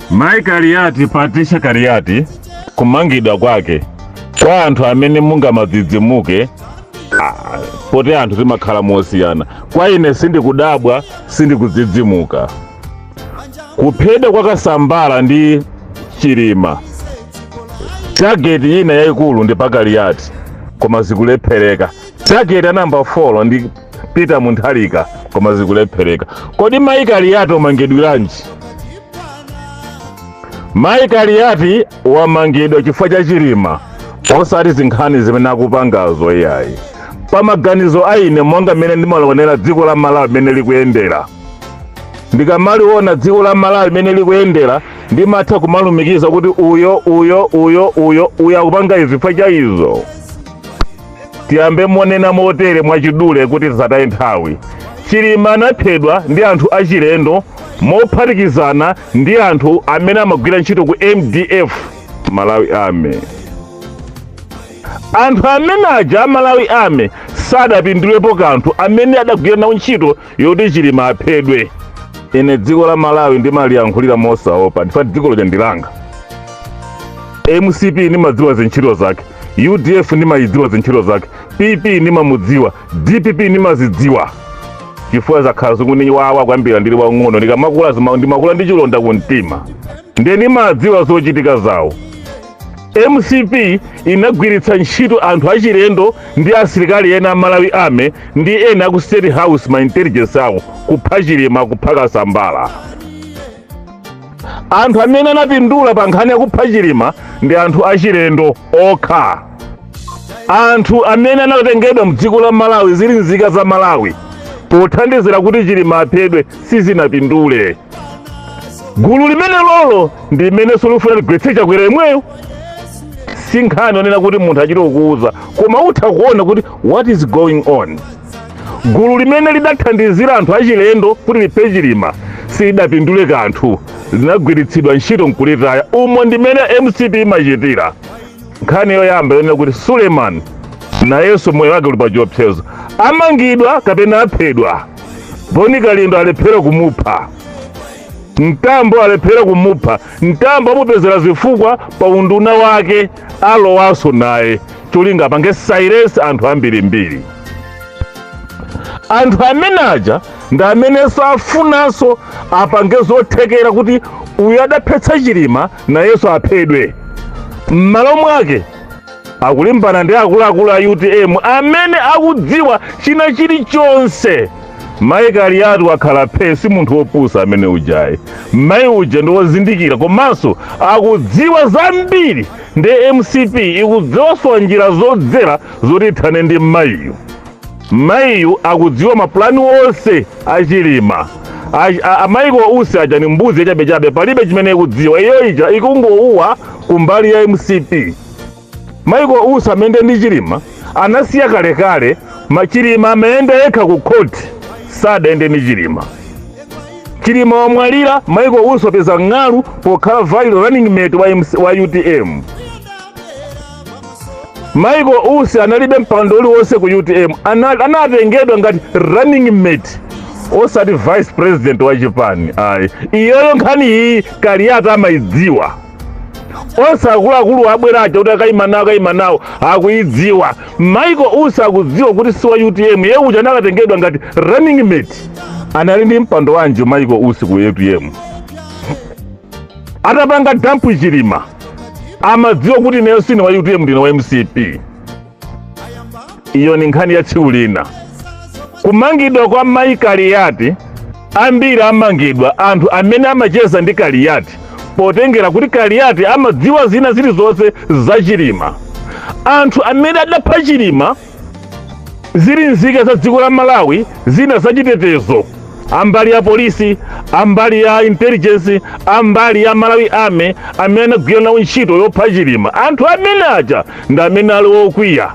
Mai Kaliati Patricia Kaliati kumangidwa kwake kwa anthu amene mungamadzidzimuke ah, poti anthu timakhala mosiyana. Kwa ine sindikudabwa, sindikudzidzimuka. Kuphedwa kwa Kasambala ndi Chilima, tageti ina yayikulu ndi pa Kaliati, koma zikulephereka. Tageti ya namba 4 ndi peter mutharika koma zikulephereka kodi mayi kaliyati wamangidwiranji mayi kaliyati wamangidwa chifukwa cha chilima osati zinkhani zimene akupangazo iyayi pa maganizo a ine monga mmene ndimalionera dziko la malawi mmene likuyendera ndikamaliona dziko la malawi mmene likuyendera ndimatha kumalumikiza kuti uyo uyo uyo uyo uyo akupanga izi chifukwa cha izo Tiyambe monena motere mwachidule kuti tisataye nthawi. Chilima anaphedwa ndi anthu achilendo mophatikizana ndi anthu amene amagwira ntchito ku MDF, Malawi Army. Anthu amene aja a Malawi Army sadapindulepo kanthu amene adagwira nawo ntchito yoti chilima aphedwe ine dziko la malawi ndimaliyankhulira mosaopa chifukwa ndi dziko lomwe lija ndi langa mcp ndimadziwa zintchito zake udf ndimayidziwa zintchito zake pp ndimamudziwa dpp ndimazidziwa chifukwa zakhala zikundiwawa kuyambira ndili wang'ono ndikamakula zima- ndimakula ndi chilonda ku mtima ndiye ndimadziwa zochitika zawo mcp inagwiritsa ntchito anthu achilendo ndi asilikali ena a malawi army ndi ena aku state house ma intelligence awo kupha chilima kupha kasambala anthu amene anapindula pa nkhani yakupha chilima ndi anthu achilendo okha anthu amene anatengedwa mdziko la malawi zili nzika za malawi pothandizira kuti chilima aphedwe sizinapindule gulu limenelolo ndi limenenso likufuna ligwetse chakwera yemweyo si nkhani onena kuti munthu achite kukuwuza koma utha kuona kuti what is going on gulu limene lidathandizira anthu achilendo kuti liphe chilima silidapindule kanthu linagwiritsidwa ntchito nkulitaya umo ndimene mcp imachitira nkhani yoyamba yonena kuti suleiman nayenso moyo wake uli pa chiopsezo amangidwa kapena aphedwa boni kalindo alephera kumupha mtambo alephera kumupha mtambo amupezera zifukwa pa unduna wake alowanso naye cholinga apange silence anthu ambirimbiri anthu amene aja ndi amenenso afunanso apange zothekera kuti uyu adaphetsa chilima nayenso aphedwe. M'malo mwake akulimbana ndi akuluakulu a utm amene akudziwa china chilichonse. Mayi Kaliati wakhala phee si munthu wopusa amene ujayi. Mayi uja ndi wozindikira komanso akudziwa zambiri ndi mcp ikusowa njira zodzera zoti ithane ndi mayiyu. Mayiyu akudziwa mapulani onse a Chilima. A- a- a Michael Usi aja ni mbuzi yachabechabe, palibe chimene ikudziwa. Iyo ija ikungouwa kumbali ya MCP. Michael Usi amayenda ndi Chilima anasiya kalekale, Chilima amayenda yekha ku khoti, sadayende ndi Chilima. Chilima wamwalira, Michael Usi wapeza ng'alu pokhala vice running mate wa, MC, wa UTM. Michael Usi analibe mpando uliwonse ku UTM, ana- anatengedwa ngati running mate osati vice president wa chipani ayi. Iyoyo nkhani iyi Kaliati amayidziwa onse akuluakulu abwera aja kuti akayima nawo akayima nawo akuyidziwa. Michael Usi akudziwa kuti si wa UTM, iye uja anakatengedwa ngati running mate. Anali ndi mpando wanji Michael Usi ku UTM? atapanga dump Chilima amadziwa kuti ineyo sine wa utm ndine wa mcp iyo ni nkhani ya tsiku lina kumangidwa kwa mayi kaliyati ambiri amangidwa anthu amene amacheza ndi kaliyati potengera kuti kaliyati amadziwa zina zilizonse za chilima anthu amene adapha chilima zili nzika za dziko la malawi zina zachitetezo ambali ya polisi ambali ya intelligence ambali ya malawi army amene anagwira nawo ntchito yopha chilima anthu amene aja ndi amene ali okwiya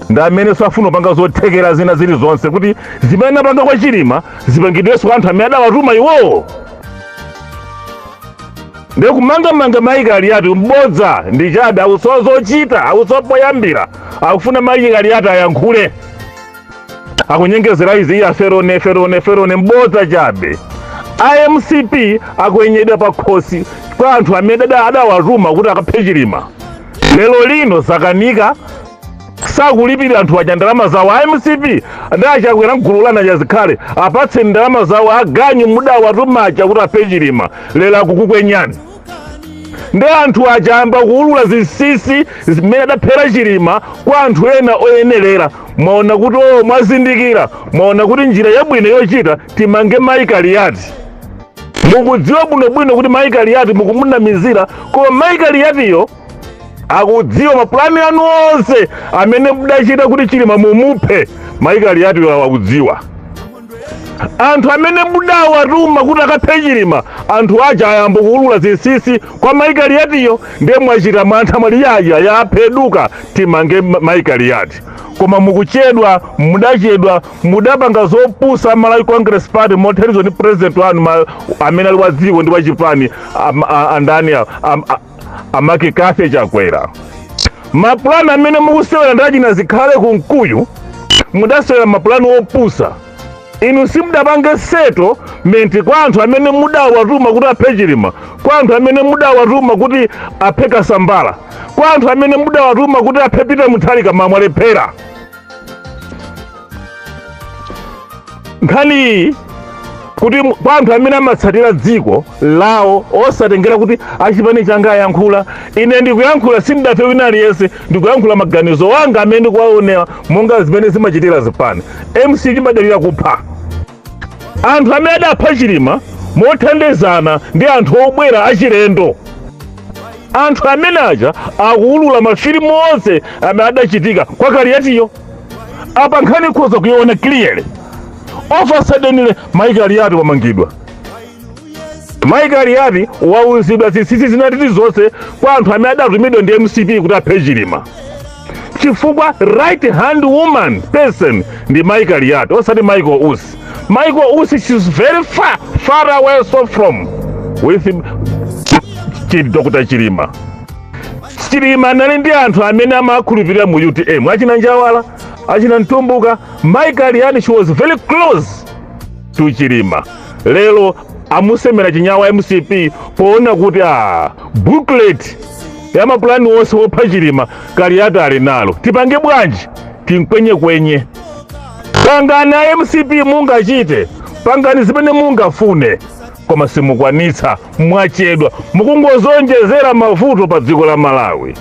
ndi amene akufuna kupanga zothekera zina zilizonse kuti zimene anapanga kwa chilima zipangidwenso kwa anthu amene adawatuma iwowo ndiye kumangamanga mayi kaliyati mbodza ndi chabe akusowa zochita akusowa poyambira akufuna mayi kaliyati ayankhule akunyengezera izi iya ferone ferone ferone mbodza chabe amcp akwenyedwa pa khosi kwa anthu amene ada- adawatuma kuti akaphe chilima lero lino zakanika sakulipira anthu aja ndalama zawo a mcp ndi achakwera mgulu lana chazikhale apatseni ndalama zawo aganyu mudawatuma aja kuti aphe chilima lero akukukwenyani ndi anthu aja ayamba kuulula zinsinsi zimene adaphera chilima kwa anthu ena oyenerera mwaona kuti oo mwazindikira mwaona kuti njira yabwino yochita timange mayi kaliyati mukudziwa bwinobwino kuti mayi kaliyati mukumunamizira koma mayi kaliyatiyo akudziwa mapulani anu onse amene mudachita kuti chilima mumuphe mai kaliati akudziwa anthu amene mudawatuma kuti akaphe chilima anthu aja ayamba kuulula zinsinsi kwa mai kaliatiyo ndiye mwachita mantha mwati yaya yapheduka timange ma- mai kaliati koma mukuchedwa mudachedwa mudapanga zopusa malawi congress party mothandizidwa ndi president wanu ma- amene ali wa dziko ndi wachipani am- a- andani a- am- a- amake kathe chakwera mapulani amene mukusewera ndi achina zikhale kumkuyu mudasewera mapulani opusa inu simudapange settlement kwa anthu amene mudawatuma kuti aphe chilima kwa anthu amene mudawatuma kuti aphe kasambala kwa anthu amene mudawatuma kuti aphe peter mutharika ma- mwalephera nkhaniyi kuti mu- kwa anthu amene amatsatira dziko lawo osatengera kuti achipani changa ayankhula ine ndikuyankhula sindidafe wina aliyense ndikuyankhula maganizo anga amene ndikuwaonera monga zimene zimachitira zipani mcp chimadalira kupha anthu amene adapha chilima mothandizana ndi anthu obwera achilendo anthu amene aja akuwulula mafilimu onse amene adachitika kwa kaliyatiyo apa nkhani ikhoza kuiona clearly of a sudden mayi kaliyati wamangidwa Mai Kaliati wauzidwa zinsinsi zinatiti zonse kwa anthu amene adatumidwa ndi mcp kuti aphe chilima chifukwa right hand woman person ndi Mai Kaliati osati michael usi michael usi she's very far far away so from with chi- dr chilima chilima anali ndi anthu amene amakhulupirira mu utm achina njawala achina mtumbuka Mai Kaliati she was very close to chilima lero amusemera chinyawa mcp poona kuti a booklet ya mapulani onse wopha chilima kaliyati ali nalo tipange bwanji timkwenyekwenye pangani a mcp mungachite pangani zimene mungafune koma simukwanitsa mwachedwa mukungozonjezera mavuto pa dziko la malawi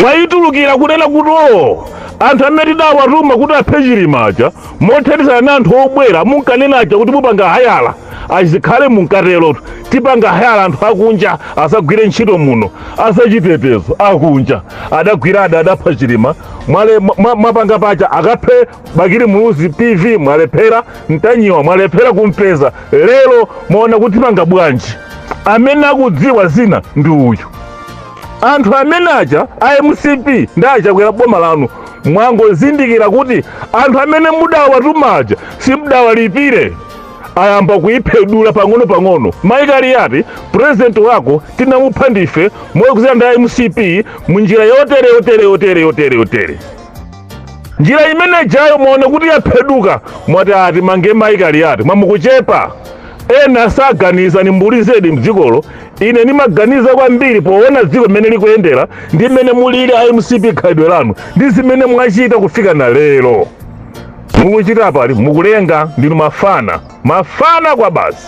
mwayitulukira kunena kuti o anthu amene tidawatuma kuti aphe chilima aja mothandizana ndi anthu obwera munkanena aja kuti mupanga hire azikhale munkaterotu tipanga hire anthu akunja azagwire ntchito muno azachitetezo akunja adagwira a- adapha chilima mwale- mwa- mwa- mwapanga paja akaphe bakili muluzi tv mwalephera ntanyiwa mwalephera kumpeza lero mwaona kuti panga bwanji amene akudziwa zina ndi uyu anthu amene aja a mcp ndi akachakwera boma lanu mwangozindikira kuti anthu amene mudawatuma aja simudawalipire ayamba kuyipwedula pang'ono pang'ono mayi kaliyati purezidenti wako tinamupha ndife moyikuzira ndi a mcp mu njira yotere yotere yotere yotere yotere njira imene ijayo muone kuti yapheduka mwati ati mange mayi kaliyati mwamukuchepa ena saganiza ni mbuli zedi mdzikolo ine nimaganiza kwambiri poona dziko mmene likuyendera ndi mmene mulili a mcp khalidwe lanu ndi zimene mwachita kufika na lero mukuchita pali mukulenga ndinu mafana mafana kwa basi